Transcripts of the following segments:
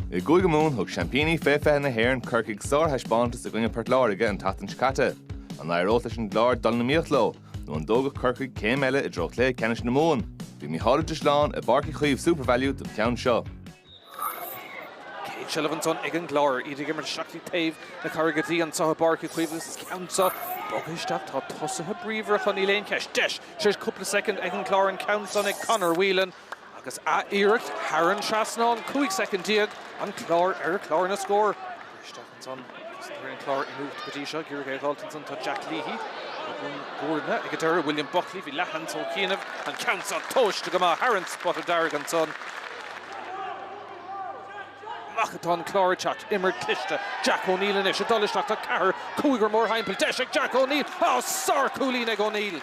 I gCúige Mumhan thug seaimpíní Fé Fiche na hÉireann Corcaigh sárthaispeántas i gcoinne Port Láirge an tseachtain seo caite. An éireodh leis an gClár dul in iomaíocht leo nó an dtógadh Corcaigh céim eile i dtreo cluiche ceannais na Mumhan? Bhí Mícheál Ó Sé lán i bPáirc Uí Chaoimh SuperValu don cheann seo. Céad seilbh ansan ag an gClár. Iad ag imirt isteach dtí taobh na Carraige Duibhe anso i bPáirc Uí Chaoimh agus is an ceann so ag bogadh isteach. Tá tosaithe bríomhar acu, níl aon cheist. Deis tréis cúpla soicind ag an gclár an ceann san ag Conor Whelan agus a iarracht thar an trasnán, 15 soicind an clár ar chlár na scór. Isteach ansan agus tá an clár in ucht go dtí seo ag iarraidh é a dh'fháilt ansan tá Jack Leahy á bhagairt ag an deireadh, William Buckley, bhí leathsheans ó chianaibh, an ceann san tomhaiste go maith thar an spota dearg ansan. amach atá an Clár ag teacht. Imreoir cliste, Jack O'Neill anois ag dul isteach tá ceathrar cúigear mórthimpeall. Deis ag Jack O'Neill. Á, sárchúilín ag O'Neill!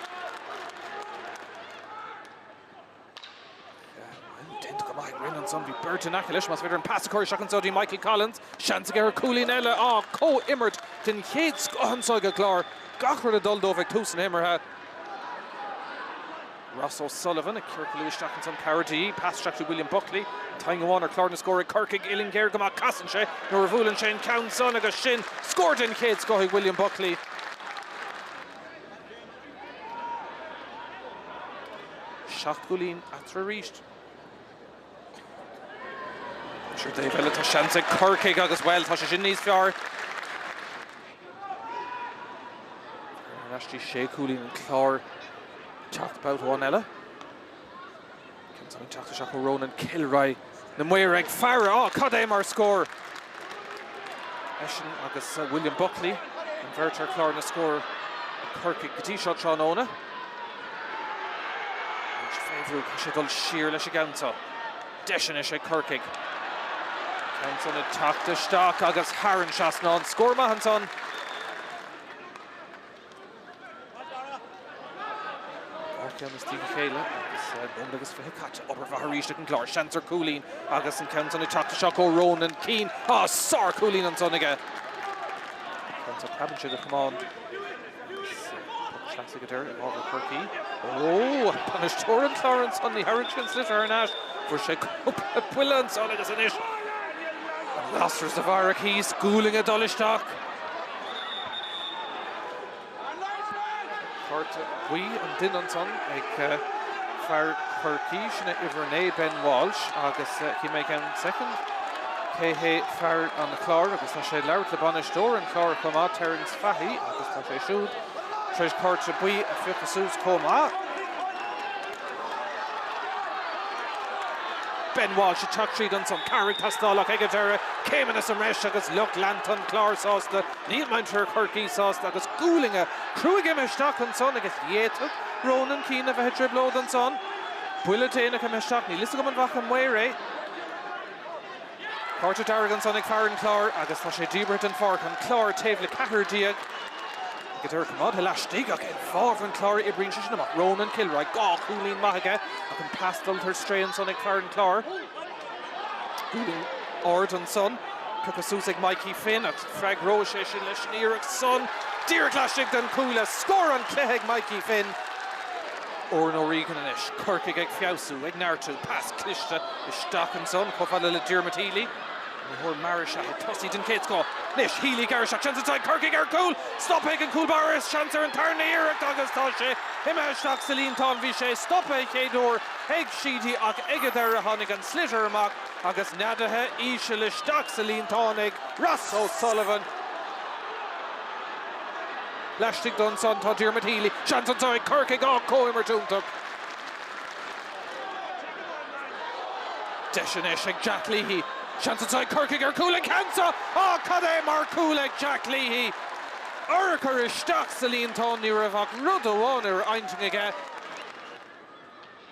Bhuel, déanta go maith ag Rinne ansan. Bhí beirt in aice leis, ab fhéidir an pas a chur isteach anso dtí Michael Collins. Seans aige ar cúilín eile. Á, comhimirt den chéad scoth anso ag an gClár. Gach rud ag dul dóibh ag tús na himeartha. Ross O'Sullivan ag ciorcalú isteach ón gCarraig Duibhe, pas isteach do William Buckley. An t-ainm amháin ar chlár na scór ag Corcaigh uillinn ghéar go maith, casann sé nuair a bhuaileann sé an ceann san agus sin scór den chéad scoth ag William Buckley. Seacht gcúilín eatarthu arís. Síneadh láimhe eile tá seans ag Corcaigh agus bhuel tá sé sin níos fearr. Ar ais dtí sé cúilín an Clár teacht babhta amháin eile. Ceann san ag teacht isteach ó Ronan Kilroy na maoir ag faire á cad é mar scór. Eisean agus William Buckley an bheirt ar chlár na scór ag Corcaigh go dtí seo tráthnóna. Deis, féach, tá sé ag dul siar leis an gceann seo. Deis anois ag Corcaigh. Ceann san ag teacht isteach agus thar an trasnán. Scór maith ansan. Dhá cheann i ndiaidh a chéile agus nóiméad agus fiche caite. Obair mhaith arís ag an gClár. Seans ar cúilín agus an ceann san ag teacht isteach ó Ronan Keane. Sár-chúilín ansan aige. Ceann seo, preabann sé go camán. Poc saor i bhfabhar Chorcaí. Ó! Bainisteoir an Chláir ansan, ní thabharfaidh sé an sliotar thar n-ais. Fuair sé cúpla buille ansan agus anois tá an lasair sa bharrach thíos. Gualainn ag dul isteach. Cárta buí an duine ansan ag fear Chorcaí, sin é uimhir 9, Ben Walsh agus chímid i gceann soicind. Cé hé fear an Chláir agus tá sé ag labhairt le bainisteoir an Chláir chomh maith, Terence. taithí agus tá sé siúd tar éis cárta buí a phiocadh suas chomh maith. Ben Walsh ag teacht tríd ansan, Carraig Tastálach ag a deireadh, céimeanna sa mbreis agus lucht leanta an Chláir sásta, níl muintir Chorcaí sásta agus gualainne cruaidh imithe isteach ansan agus d'fhéadfadh Ronan Kilroy a bheith i dtrioblóid ansan. Buille déanach imithe isteach, níl fhios agam an bhfaca an maor é. Cárta dearg ansan ag fear an Chláir agus tá sé díbeartha den pháirc, an Clár taobh le ceathrar déag ag an deireadh coimeádtha laistigh ach i bhfábhar an Chláir oibríonn sé sin amach. Ronan Kilroy, dhá chúilín maith aige ach an pas dul tar strae ansan ag fear an Chláir. Uillinn ard ansan, pioctha suas ag Mikey Finn ach freagróidh sé sin leis an iarracht san díreach laistigh den chuaille. Scór an cluiche ag Mikey Finn. Oran O'Regan anois. Corcaigh ag feabhsú, ag neartú. Pas cliste isteach ansan, chomh fada le Diarmuid Healy. Imreoir mear is ea é. Tosaí den chéad scoth. Anois, Healy ag gearradh isteach. Seans anso ag Corcaigh ar chúl! Stoptha ag an gcúl báire is seans ar an tarna iarracht agus tá sé imithe isteach sa líontán. Bhí sé stoptha an chéad uair ag Sheedy ach ag an deireadh tháinig an sliotar amach agus neadaithe íseal isteach sa líontán ag Ross O'Sullivan. Laistigh de ansan tá Diarmuid Healy. Seans anso ag Corcaigh, á comhimirt iontach. Deis anois ag Jack Leahy. Seans anso ag Corcaigh ar chúl an ceann seo ó cad é mar chúl ag Jack Leahy. Urchar isteach sa líontán ní raibh ach rud amháin ar a intinn aige.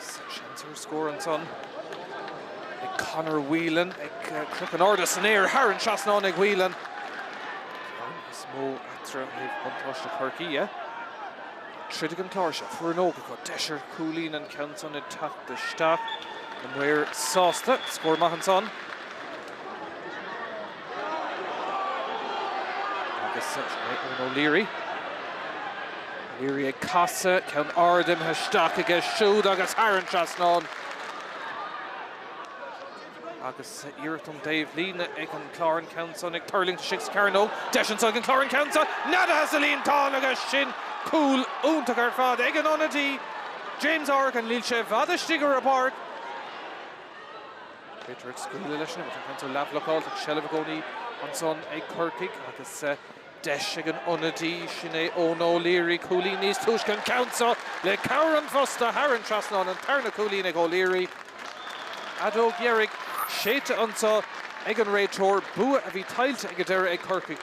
Seans ar scór ansan ag Conor Whelan ag críochnú in airde san aer thar an trasnán ag Whelan. Níos mó eatra thaobh buntáiste Chorcaí dhe. Tríd i gcomhair seilbh ar an ócáid go deis ar chúilín an ceann san ag casadh isteach. Na maoir sásta, scór maith ansan. Agus Eoin O'Leary. O'Leary ag casadh, ceann ard imithe isteach aige siúd agus thar an trasnán. Agus iarracht ón dtaobhlíne ag an Clár an ceann san ag tuirlingt istigh sa chearnóg. Deis anso ag an Clár an ceann san neadaithe sa líontán agus sin cúl iontach ar fad ag an ionadaí James Horgan. Níl sé i bhfad istigh ar an bpáirc. Réiteoir ag scaoileadh leis an gceann san ach leathbhlocáil ach seilbh i gcónaí ansan ag Corcaigh agus deis ag an ionadaí, sin é Eoin O'Leary, cúilín níos túisce an ceann seo le cabhair an phosta thar an trasnán. An tarna cúilín ag O'Leary. Fheadóg dheiridh séidte anso ag an réiteoir, bua a bhí tuillte ag an deireadh ag Corcaigh.